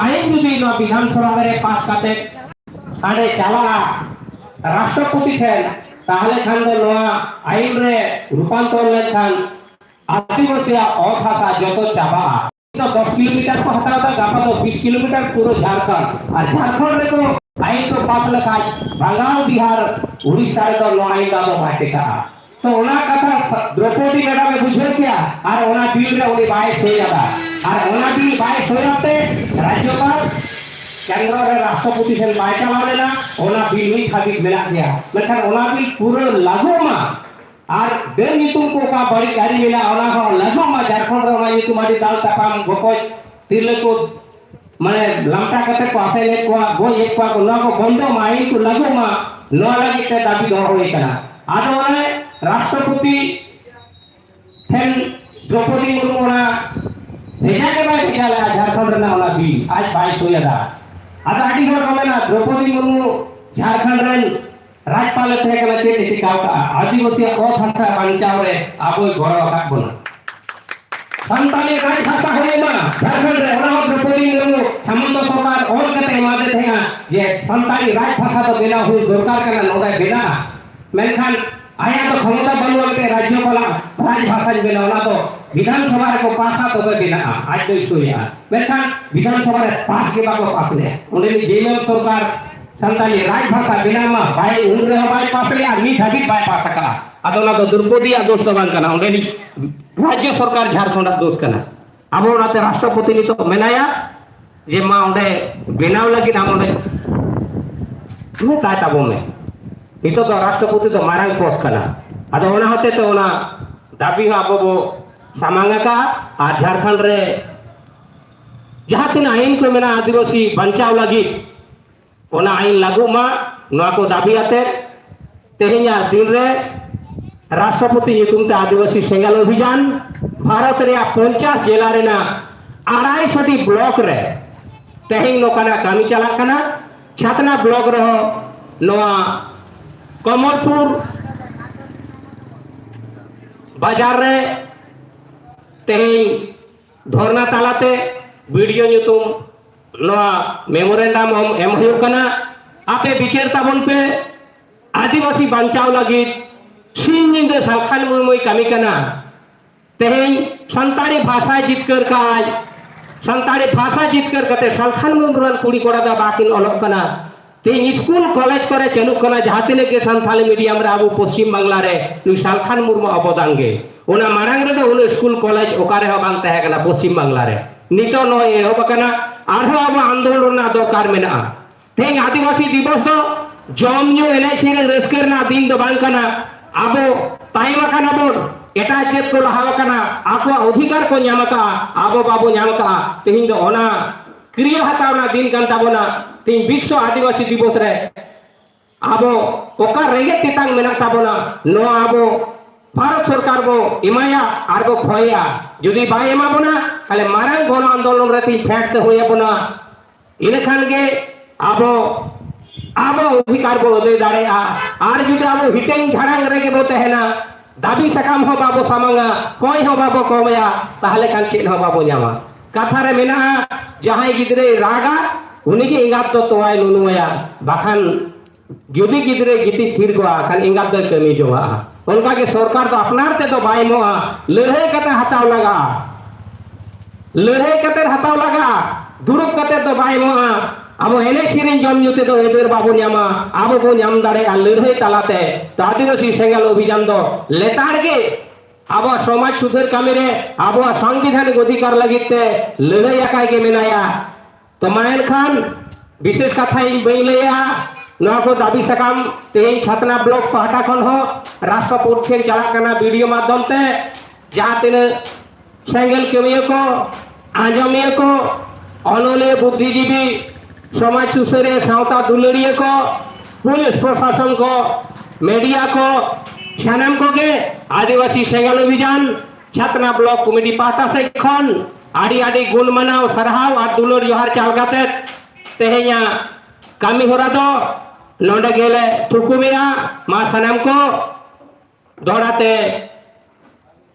ᱟᱭᱤᱱ ᱡᱩᱫᱤ ᱱᱚᱣᱟ ᱵᱤᱫᱷᱟᱱ ᱥᱚᱵᱷᱟ ᱨᱮ ᱯᱟᱥ ᱠᱟᱛᱮ ᱦᱟᱸᱰᱮ ᱪᱟᱞᱟᱜᱼᱟ ᱨᱟᱥᱴᱨᱚᱯᱚᱛᱤ ᱴᱷᱮᱱ ᱛᱟᱦᱚᱞᱮ ᱠᱷᱟᱱ ᱫᱚ ᱱᱚᱣᱟ ᱟᱭᱤᱱ ᱨᱮ ᱨᱩᱯᱟᱱᱛᱚᱨ ᱞᱮᱱᱠᱷᱟᱱ ᱟᱹᱫᱤᱵᱟᱹᱥᱤᱭᱟᱜ ᱚᱛ ᱦᱟᱥᱟ ᱡᱚᱛᱚ ᱪᱟᱵᱟᱜᱼᱟ ᱫᱚ ᱫᱚᱥ ᱠᱤᱞᱳᱢᱤᱴᱟᱨ ᱠᱚ ᱦᱟᱛᱟᱣ ᱮᱫᱟ ᱜᱟᱯᱟ ᱫᱚ ᱵᱤᱥ ᱠᱤᱞᱳᱢᱤᱴᱟᱨ ᱯᱩᱨᱟᱹ ᱡᱷᱟᱲᱠᱷᱚᱸᱰ ᱟᱨ ᱡᱷᱟᱲᱠᱷᱚᱸᱰ ᱨᱮᱫᱚ ᱟᱭᱤᱱ ᱠᱚ ᱯᱟᱥ ᱞᱮᱠᱷᱟᱱ ᱵᱟᱝᱜᱟᱞ ᱵᱤᱦᱟᱨ ᱩᱲᱤᱥᱥᱟ ᱨᱮᱫᱚ ᱱᱚᱣᱟ ᱟᱭᱤᱱ ᱫᱚ ᱟᱫᱚ ᱵᱟᱭ ᱴᱮᱠᱟᱜᱼᱟ ᱛᱚ ᱚᱱᱟ ᱠᱟᱛᱷᱟ ᱫᱨᱚᱯᱚᱫᱤ ᱢᱮᱰᱟᱢ ᱮ ᱵᱩᱡᱷᱟᱹᱣ ᱠᱮᱭᱟ ᱟᱨ ᱚᱱᱟ ᱵᱤᱞ ᱨᱮ ᱩᱱᱤ ᱵᱟᱭ ᱥᱳᱭ ᱟᱫᱟ ᱟᱨ ᱚᱱᱟ ᱵᱤᱞ ᱵᱟᱭ ᱥᱳᱭ ᱟᱛᱮ ᱨᱟᱡᱽᱡᱚᱯᱟᱞ ᱠᱮᱱᱫᱨᱚ ᱨᱮ ᱨᱟᱥᱴᱨᱚᱯᱚᱛᱤ ᱴᱷᱮᱱ ᱵᱟᱭ ᱪᱟᱞᱟᱣ ᱞᱮᱱᱟ ᱚᱱᱟ ᱵᱤᱞ ᱱᱤᱛ ᱦᱟᱹᱵᱤᱡ ᱢᱮᱱᱟᱜ ᱜᱮᱭᱟ ᱢᱮᱱᱠᱷᱟᱱ ᱚᱱᱟ ᱵᱤᱞ ᱯᱩᱨᱟᱹ ᱞᱟᱹᱜᱩ ᱢᱟ ᱟᱨ ᱰᱟᱹᱱ ᱧᱩᱛᱩᱢ ᱠᱚ ᱚᱠᱟ ᱵᱟᱹᱲᱤᱡ ᱟᱹᱨᱤ ᱢᱮᱱᱟᱜᱼᱟ ᱚᱱᱟ ᱦᱚᱸ ᱞᱟᱹᱜᱩ ᱢᱟ ᱡᱷᱟᱲᱠᱷᱚᱸᱰ ᱨᱮ ᱚᱱᱟ ᱧᱩᱛᱩᱢ ᱟᱹᱰᱤ ᱫᱟᱞ ᱛᱟᱯᱟᱢ ᱜᱚᱯᱚᱡ ᱛᱤᱨᱞᱟᱹ ᱠᱚ ᱢᱟᱱᱮ ᱞᱟᱢᱴᱟ ᱠᱟᱛᱮ ᱠᱚ ᱟᱥᱮ ᱞᱮᱫ ᱠᱚᱣᱟ ᱜᱚᱡ ᱮᱫ ᱠᱚᱣᱟ ᱠᱚ ᱱᱚᱣᱟ ᱠᱚ ᱵᱚᱱᱫᱚ ᱢᱟ ᱟᱹᱭᱤᱱ ᱠᱚ ᱞᱟᱹᱜᱩ ᱢᱟ ᱱᱚᱣᱟ ᱞᱟᱹᱜᱤᱫ ᱛᱮ ᱫᱟᱹᱵᱤ ᱫᱚᱦᱚ ᱦᱩᱭ ᱠᱟᱱᱟ ᱟᱫᱚ ᱚᱱᱮ ᱨᱟᱥᱴᱨᱚᱯᱚᱛᱤ ᱴᱷᱮᱱ ᱫᱨᱚᱯᱚᱫᱤ ᱢᱩᱨᱢᱩ ᱚᱱᱟ ᱵᱷᱮᱡᱟ ᱜᱮ ᱵᱟᱭ ᱵᱷᱮᱡᱟ ᱞᱮᱫᱟ ᱡᱷᱟᱲᱠᱷᱚᱸᱰ ᱨᱮᱱᱟᱜ ᱚᱱᱟ ᱵᱤᱞ ᱟᱡ ᱵᱟᱭ ᱥᱳᱭ ᱟᱫᱟ ᱟᱫᱚ ᱟᱹᱰᱤ ᱦᱚᱲ ᱠᱚ ᱢᱮᱱᱟ ᱫᱨᱚᱯᱚᱫᱤ ᱢᱩᱨᱢᱩ ᱡᱷᱟᱲᱠᱷᱚᱸᱰ ᱨᱮᱱ ᱨᱟᱡᱽᱯᱟᱞ ᱮ ᱛᱟᱦᱮᱸ ᱠᱟᱱᱟ ᱪᱮᱫ ᱮ ᱪᱤᱠᱟ ᱟᱠᱟᱫᱼᱟ ᱟᱹᱫᱤᱵᱟᱹᱥᱤᱭᱟᱜ ᱚᱛ ᱦᱟᱥᱟ ᱵᱟᱧᱪᱟᱣ ᱨᱮ ᱟᱵᱚᱭ ᱜᱚᱲᱚ ᱟᱠᱟᱫ ᱵᱚᱱᱟ ᱥᱟᱱᱛᱟᱲᱤ ᱨᱟᱡᱽ ᱵᱷᱟᱥᱟ ᱦᱩᱭ ᱮᱱᱟ ᱡᱷᱟᱲᱠᱷᱚᱸᱰ ᱨᱮ ᱚᱱᱟ ᱦᱚᱸ ᱫᱨᱚᱯᱚᱫᱤ ᱢᱩᱨᱢᱩ ᱦᱮᱢᱚᱱᱛᱚ ᱥᱚᱨᱠᱟᱨ ᱚᱞ ᱠᱟᱛᱮ ᱮᱢᱟᱫᱮ ᱛᱟᱦᱮᱸᱜᱼᱟ ᱡᱮ ᱥᱟᱱᱛᱟᱲᱤ ᱨᱟᱡᱽ ᱵᱷᱟᱥᱟ ᱫᱚ ᱵᱮᱱᱟᱣ ᱦᱩᱭ ᱫᱚᱨᱠᱟᱨ ᱠᱟᱱᱟ ᱱᱚᱰᱮ ᱵᱮᱱᱟᱜᱼᱟ ᱢᱮᱱᱠᱷᱟᱱ ᱟᱭᱟᱜ ᱫᱚ ᱠᱷᱚᱢᱚᱛᱟ ᱵᱟᱹᱱᱩᱜ ᱟᱱᱛᱮ ᱨᱟᱡᱽᱭᱚᱯᱟᱞᱟᱜ ᱨᱟᱡᱽ ᱵᱷᱟᱥᱟᱧ ᱵᱮᱱᱟᱣ ᱚᱱᱟ ᱫᱚ ᱵᱤᱫᱷᱟᱱ ᱥᱚᱵᱷᱟ ᱨᱮᱠᱚ ᱯᱟᱥᱟ ᱛᱚᱵᱮ ᱵᱮᱱᱟᱜᱼᱟ ᱟᱡ ᱫᱚᱭ ᱥᱳᱭᱟ ᱢᱮᱱᱠᱷᱟᱱ ᱵᱤᱫᱷᱟᱱ ᱥᱚᱵᱷᱟ ᱨᱮ ᱯᱟᱥ ᱜᱮ ᱵᱟᱠᱚ ᱯᱟᱥ ᱞᱮᱫᱼᱟ ᱚᱸᱰᱮ ᱡᱮᱢᱮᱞ ᱥᱚᱨᱠᱟᱨ ᱥᱟᱱᱛᱟᱞᱤ ᱨᱟᱡᱽ ᱵᱷᱟᱥᱟ ᱵᱮᱱᱟᱣ ᱢᱟ ᱵᱟᱭ ᱩᱱ ᱨᱮᱦᱚᱸ ᱵᱟᱭ ᱯᱟᱥ ᱞᱮᱫᱼᱟ ᱱᱤᱛ ᱦᱟᱹᱵᱤᱡ ᱵᱟᱭ ᱯᱟᱥ ᱟᱠᱟᱱᱟ ᱟᱫᱚ ᱚᱱᱟ ᱫᱚ ᱫᱨᱳᱯᱚᱫᱤᱭᱟᱜ ᱫᱳᱥ ᱫᱚ ᱵᱟᱝ ᱠᱟᱱᱟ ᱚᱸᱰᱮᱱᱤᱡ ᱨᱟᱡᱽᱡᱚ ᱥᱚᱨᱠᱟᱨ ᱡᱷᱟᱲᱠᱷᱚᱸᱰᱟᱜ ᱫᱳᱥ ᱠᱟᱱᱟ ᱟᱵᱚ ᱚᱱᱟᱛᱮ ᱨᱟᱥᱴᱨᱚᱯᱚᱛᱤ ᱱᱤᱛᱚᱜ ᱢᱮᱱᱟᱭᱟ ᱡᱮ ᱢᱟ ᱚᱸᱰᱮ ᱵᱮᱱᱟᱣ ᱞᱟᱹᱜᱤᱫ ᱟᱢ ᱚᱸᱰᱮ ᱢᱮᱛᱟᱭ ᱛᱟᱵᱚᱱ ᱢᱮ ᱱᱤᱛᱚᱜ ᱫᱚ ᱨᱟᱥᱴᱨᱚᱯᱚᱛᱤ ᱫᱚ ᱢᱟᱨᱟᱝ ᱯᱚᱫᱽ ᱠᱟᱱᱟ ᱟᱫᱚ ᱚᱱᱟ ᱦᱚᱛᱮ ᱛᱮ ᱚᱱᱟ ᱫᱟᱹᱵᱤ ᱦᱚᱸ ᱟᱵᱚ ᱵᱚ ᱥᱟᱢᱟᱝ ᱟᱠᱟᱫᱼᱟ ᱟᱨ ᱡᱷᱟᱲᱠᱷᱚᱸᱰ ᱨᱮ ᱡᱟᱦᱟᱸ ᱛᱤᱱᱟᱹᱜ ᱟᱭᱤᱱ ᱠᱚ ᱢᱮᱱᱟᱜᱼᱟ ᱟᱹᱫᱤᱵᱟᱹᱥᱤ ᱵᱟᱧᱪᱟᱣ ᱞᱟᱹᱜᱤᱫ ᱚᱱᱟ ᱟᱭᱤᱱ ᱞᱟᱹᱜᱩᱜ ᱢᱟ ᱱᱚᱣᱟ ᱠᱚ ᱫᱟᱹᱵᱤ ᱟᱛᱮ ᱛᱮᱦᱮᱧᱟᱜ ᱫᱤᱱ ᱨᱮ ᱨᱟᱥᱴᱨᱚᱯᱚᱛᱤ ᱧᱩᱛᱩᱢ ᱛᱮ ᱟᱹᱫᱤᱵᱟᱹᱥᱤ ᱥᱮᱸᱜᱮᱞ ᱚᱵᱷᱤᱡᱟᱱ ᱵᱷᱟᱨᱚᱛ ᱨᱮᱭᱟᱜ ᱯᱚᱧᱪᱟᱥ ᱡᱮᱞᱟ ᱨᱮᱱᱟᱜ ᱟᱲᱟᱭ ᱥᱚᱴᱤ ᱵᱞᱚᱠ ᱨᱮ ᱛᱮᱦᱮᱧ ᱱᱚᱝᱠᱟᱱᱟᱜ ᱠᱟᱹᱢᱤ ᱪᱟᱞᱟᱜ ᱠᱟᱱᱟ ᱪᱷᱟᱛᱱᱟ ᱵᱞᱚᱠ ᱨᱮᱦᱚᱸ ᱱᱚᱣᱟ ᱠᱚᱢᱚᱞᱯᱩᱨ ᱵᱟᱡᱟᱨ ᱨᱮ ᱛᱮᱦᱮᱧ ᱫᱷᱚᱨᱱᱟ ᱛᱟᱞᱟᱛᱮ ᱵᱤᱰᱤᱭᱳ ᱧᱩᱛᱩᱢ ᱱᱚᱣᱟ ᱢᱮᱢᱳᱨᱮᱱᱰᱟᱢ ᱮᱢ ᱦᱩᱭᱩᱜ ᱠᱟᱱᱟ ᱟᱯᱮ ᱵᱤᱪᱟᱹᱨ ᱛᱟᱵᱚᱱ ᱯᱮ ᱟᱹᱫᱤᱵᱟᱹᱥᱤ ᱵᱟᱧᱪᱟᱣ ᱞᱟᱹᱜᱤᱫ ᱥᱤᱧ ᱧᱤᱫᱟᱹ ᱥᱟᱞᱠᱷᱟᱱ ᱢᱩᱨᱢᱩᱭ ᱠᱟᱹᱢᱤ ᱠᱟᱱᱟ ᱛᱮᱦᱮᱧ ᱥᱟᱱᱛᱟᱲᱤ ᱵᱷᱟᱥᱟᱭ ᱡᱤᱛᱠᱟᱹᱨ ᱠᱟᱜᱼᱟᱭ ᱥᱟᱱᱛᱟᱲᱤ ᱵᱷᱟᱥᱟ ᱡᱤᱛᱠᱟᱹᱨ ᱠᱟᱛᱮ ᱥᱟᱞᱠᱷᱟᱱ ᱢᱩᱨᱢᱩ ᱨᱮᱱ ᱠᱩᱲᱤ ᱠᱚᱲᱟ ᱫᱚ ᱵᱟᱠᱤᱱ ᱚᱞᱚᱜ ᱠᱟᱱᱟ ᱛᱮᱦᱮᱧ ᱥᱠᱩᱞ ᱠᱚᱞᱮᱡᱽ ᱠᱚᱨᱮ ᱪᱟᱹᱞᱩᱜ ᱠᱟᱱᱟ ᱡᱟᱦᱟᱸ ᱛᱤᱱᱟᱹᱜ ᱜᱮ ᱥᱟᱱᱛᱟᱲᱤ ᱢᱤᱰᱤᱭᱟᱢ ᱨᱮ ᱟᱵᱚ ᱯᱚᱥᱪᱤᱢ ᱵᱟᱝᱞᱟ ᱨᱮ ᱱᱩᱭ ᱥᱟᱞᱠᱷᱟᱱ ᱢᱩᱨᱢᱩ ᱚᱵᱚᱫᱟᱱ ᱜᱮ ᱚᱱᱟ ᱢᱟᱲᱟᱝ ᱨᱮᱫᱚ ᱩᱱᱟᱹᱜ ᱥᱠᱩᱞ ᱠᱚᱞᱮᱡᱽ ᱚᱠᱟ ᱨᱮᱦᱚᱸ ᱵᱟᱝ ᱛᱟᱦᱮᱸ ᱠᱟᱱᱟ ᱯᱚᱥᱪᱤᱢ ᱵᱟᱝᱞᱟ ᱨᱮ ᱱᱤᱛᱚᱜ ᱱᱚᱜᱼᱚᱭ ᱮᱦᱚᱵ ᱟᱠᱟᱱᱟ ᱟᱨᱦᱚᱸ ᱟᱵᱚ ᱟᱱᱫᱳᱞᱚᱱ ᱨᱮᱱᱟᱜ ᱫᱚᱨᱠᱟᱨ ᱢᱮᱱᱟᱜᱼᱟ ᱛᱮᱦᱮᱧ ᱟᱹᱫᱤᱵᱟᱹᱥᱤ ᱫᱤᱵᱚᱥ ᱫᱚ ᱡᱚᱢ ᱧᱩ ᱮᱱᱮᱡ ᱥᱮᱨᱮᱧ ᱨᱟᱹᱥᱠᱟᱹ ᱨᱮᱱᱟᱜ ᱫᱤᱱ ᱫᱚ ᱵᱟᱝ ᱠᱟᱱᱟ ᱟᱵᱚ ᱛᱟᱭᱚᱢ ᱟᱠᱟᱱᱟ ᱵᱚᱱ ᱮᱴᱟᱜ ᱪᱮᱫ ᱠᱚ ᱞᱟᱦᱟ ᱟᱠᱟᱱᱟ ᱟᱠᱚᱣᱟᱜ ᱚᱫᱷᱤᱠᱟᱨ ᱠᱚ ᱧᱟᱢ ᱟᱠᱟᱜᱼᱟ ᱟᱵᱚ ᱵᱟᱵᱚ ᱧᱟᱢ ᱟᱠᱟᱜᱼᱟ ᱛᱮᱦᱮᱧ ᱫᱚ ᱚᱱᱟ ᱠᱨᱤᱭᱟ ᱦᱟᱛᱟᱣ ᱨᱮᱱᱟᱜ ᱫᱤᱱ ᱠᱟᱱ ᱛᱟᱵᱚᱱᱟ ᱛᱮᱦᱮᱧ ᱵᱤᱥᱥᱚ ᱟᱹᱫᱤᱵᱟᱹᱥᱤ ᱫᱤᱵᱚᱥ ᱨᱮ ᱟᱵᱚ ᱚᱠᱟ ᱨᱮᱸᱜᱮᱡ ᱛᱮᱛᱟᱝ ᱢᱮᱱᱟᱜ ᱛᱟᱵᱚᱱᱟ ᱱᱚᱣᱟ ᱟᱵᱚ ᱵᱷᱟᱨᱚᱛ ᱥᱚᱨᱠᱟᱨ ᱵᱚ ᱮᱢᱟᱭᱟ ᱟᱨ ᱵᱚ ᱠᱷᱚᱭᱟ ᱡᱩᱫᱤ ᱵᱟᱭ ᱮᱢᱟ ᱵᱚᱱᱟ ᱛᱟᱦᱞᱮ ᱢᱟᱨᱟᱝ ᱜᱚᱱ ᱟᱱᱫᱳᱞᱚᱱ ᱨᱮ ᱛᱮᱦᱮᱧ ᱯᱷᱮᱰ ᱛᱮ ᱦᱩᱭ ᱟᱵᱚᱱᱟ ᱤᱱᱟᱹ ᱠᱷᱟᱱ ᱜᱮ ᱟᱵᱚ ᱟᱵᱚ ᱚᱫᱷᱤᱠᱟᱨ ᱵᱚ ᱟᱹᱫᱟᱹᱭ ᱫᱟᱲᱮᱭᱟᱜᱼᱟ ᱟᱨ ᱡᱩᱫᱤ ᱟᱵᱚ ᱦᱤᱴᱟᱹᱝ ᱡᱷᱟᱲᱟᱝ ᱨᱮᱜᱮ ᱵᱚ ᱛᱟᱦᱮᱱᱟ ᱫᱟᱹᱵᱤ ᱥᱟᱠᱟᱢ ᱦᱚᱸ ᱵᱟᱵᱚ ᱥᱟᱢᱟᱝᱟ ᱠᱚᱭ ᱦᱚᱸ ᱵᱟᱵᱚ ᱠᱚᱢᱮᱭᱟ ᱛᱟᱦᱞᱮ ᱠᱷᱟᱱ ᱪᱮᱫ ᱦᱚᱸ ᱵᱟᱵᱚ ᱧᱟᱢᱟ ᱠᱟᱛᱷᱟ ᱨᱮ ᱢᱮᱱᱟᱜᱼᱟ ᱡᱟᱦᱟᱸᱭ ᱜᱤᱫᱽᱨᱟᱹᱭ ᱨᱟᱜᱟ ᱩᱱᱤᱜᱮ ᱮᱸᱜᱟᱛ ᱫᱚ ᱛᱚᱣᱟᱭ ᱞᱩᱞᱩᱣᱟᱭᱟ ᱵᱟᱠᱷᱟᱱ ᱡᱩᱫᱤ ᱜᱤᱫᱽᱨᱟᱹ ᱜᱤᱛᱤᱡ ᱛᱷᱤᱨ ᱠᱚᱜᱼᱟ ᱠᱷᱟᱱ ᱮᱸᱜᱟᱛ ᱫᱚᱭ ᱠᱟᱹᱢᱤ ᱡᱚᱝᱟᱜᱼᱟ ᱚᱱᱠᱟᱜᱮ ᱥᱚᱨᱠᱟᱨ ᱫᱚ ᱟᱯᱱᱟᱨ ᱛᱮᱫᱚ ᱵᱟᱭ ᱮᱢᱚᱜᱼᱟ ᱞᱟᱹᱲᱦᱟᱹᱭ ᱠᱟᱛᱮ ᱦᱟᱛᱟᱣ ᱞᱟᱜᱟᱜᱼᱟ ᱞᱟᱹᱲᱦᱟᱹᱭ ᱠᱟᱛᱮ ᱦᱟᱛᱟᱣ ᱞᱟᱜᱟᱜᱼᱟ ᱫᱩᱲᱩᱵ ᱠᱟᱛᱮ ᱫᱚ ᱵᱟᱭ ᱮᱢᱚᱜᱼᱟ ᱟᱵᱚ ᱮᱱᱮᱡ ᱥᱮᱨᱮᱧ ᱡᱚᱢ ᱧᱩ ᱛᱮᱫᱚ ᱟᱹᱭᱫᱟᱹᱨ ᱵᱟᱵᱚ ᱧᱟᱢᱟ ᱟᱵᱚ ᱵᱚ ᱧᱟᱢ ᱫᱟᱲᱮᱭᱟᱜᱼᱟ ᱞᱟᱹᱲᱦᱟᱹᱭ ᱛᱟᱞᱟᱛᱮ ᱛᱚ ᱟᱹᱫᱤᱵᱟᱹᱥᱤ ᱥᱮᱸᱜᱮᱞ ᱚᱵᱷᱤᱡᱟᱱ ᱫᱚ ᱞᱮᱛᱟᱲ ᱜᱮ ᱟᱵᱚ ᱥᱚᱢᱟᱡᱽ ᱥᱩᱫᱷᱟᱹᱨ ᱠᱟᱹᱢᱤ ᱨᱮ ᱟᱵᱚ ᱥᱟᱝᱵᱤᱫᱷᱟᱱᱤᱠ ᱚᱫᱷᱤᱠᱟᱨ ᱞᱟᱹᱜᱤᱫ ᱛᱮ ᱞᱟᱹᱲᱦᱟᱹᱭ ᱟᱠᱟᱭ ᱜᱮ ᱢᱮᱱᱟᱭᱟ ᱛᱚ ᱢᱟ ᱮᱱᱠᱷᱟᱱ ᱵᱤᱥᱮᱥ ᱠᱟᱛᱷᱟ ᱤᱧ ᱵᱟᱹᱧ ᱞᱟᱹᱭᱟ ᱱᱚᱣᱟ ᱠᱚ ᱫᱟᱹᱵᱤ ᱥᱟᱠᱟᱢ ᱛᱮᱦᱮᱧ ᱪᱷᱟᱛᱱᱟ ᱵᱞᱚᱠ ᱯᱟᱦᱴᱟ ᱠᱷᱚᱱ ᱦᱚᱸ ᱨᱟᱥᱴᱨᱚᱯᱳᱨᱴ ᱴᱷᱮᱱ ᱪᱟᱞᱟᱜ ᱠᱟᱱᱟ ᱵᱷᱤᱰᱤᱭᱳ ᱢᱟᱫᱽᱫᱷᱚᱢ ᱛᱮ ᱡᱟᱦᱟᱸ ᱛᱤᱱᱟᱹᱜ ᱥᱮᱸᱜᱮᱞ ᱠᱟᱹᱢᱤᱭᱟᱹ ᱠᱚ ᱟᱸᱡᱚᱢᱤᱭᱟᱹ ᱠᱚ ᱚᱱᱚᱞᱤᱭᱟᱹ ᱵᱩᱫᱽᱫᱷᱤᱡᱤᱵᱤ ᱥᱚᱢᱟᱡᱽ ᱥᱩᱥᱟᱹᱨᱤᱭᱟᱹ ᱥᱟᱶᱛᱟ ᱫᱩᱞᱟᱹᱲᱤᱭᱟᱹ ᱠᱚ ᱯᱩᱞᱤᱥ ᱯᱨᱚᱥᱟᱥᱚᱱ ᱠᱚ ᱢᱤᱰᱤᱭᱟ ᱠᱚ ᱥᱟᱱᱟᱢ ᱠᱚᱜᱮ ᱟᱹᱫᱤᱵᱟᱹᱥᱤ ᱥᱮᱸᱜᱮᱞ ᱚᱵᱷᱤᱡᱟᱱ ᱪᱷᱟᱛᱱᱟ ᱵᱞᱚᱠ ᱠᱚᱢᱤᱴᱤ ᱯᱟᱦᱴᱟ ᱥᱮᱫ ᱠᱷᱚᱱ ᱟᱹᱰᱤ ᱟᱹᱰᱤ ᱜᱩᱱ ᱢᱟᱱᱟᱣ ᱥᱟᱨᱦᱟᱣ ᱟᱨ ᱫᱩᱞᱟᱹᱲ ᱡᱚᱦᱟᱨ ᱪᱟᱞ ᱠᱟᱛᱮ ᱛᱮᱦᱮᱧᱟᱜ ᱠᱟᱹᱢᱤ ᱦᱚᱨᱟ ᱫᱚ ᱱᱚᱰᱮ ᱜᱮᱞᱮ ᱛᱷᱩᱠᱩᱢᱮᱜᱼᱟ ᱢᱟ ᱥᱟᱱᱟᱢ ᱠᱚ ᱫᱚᱦᱲᱟᱛᱮ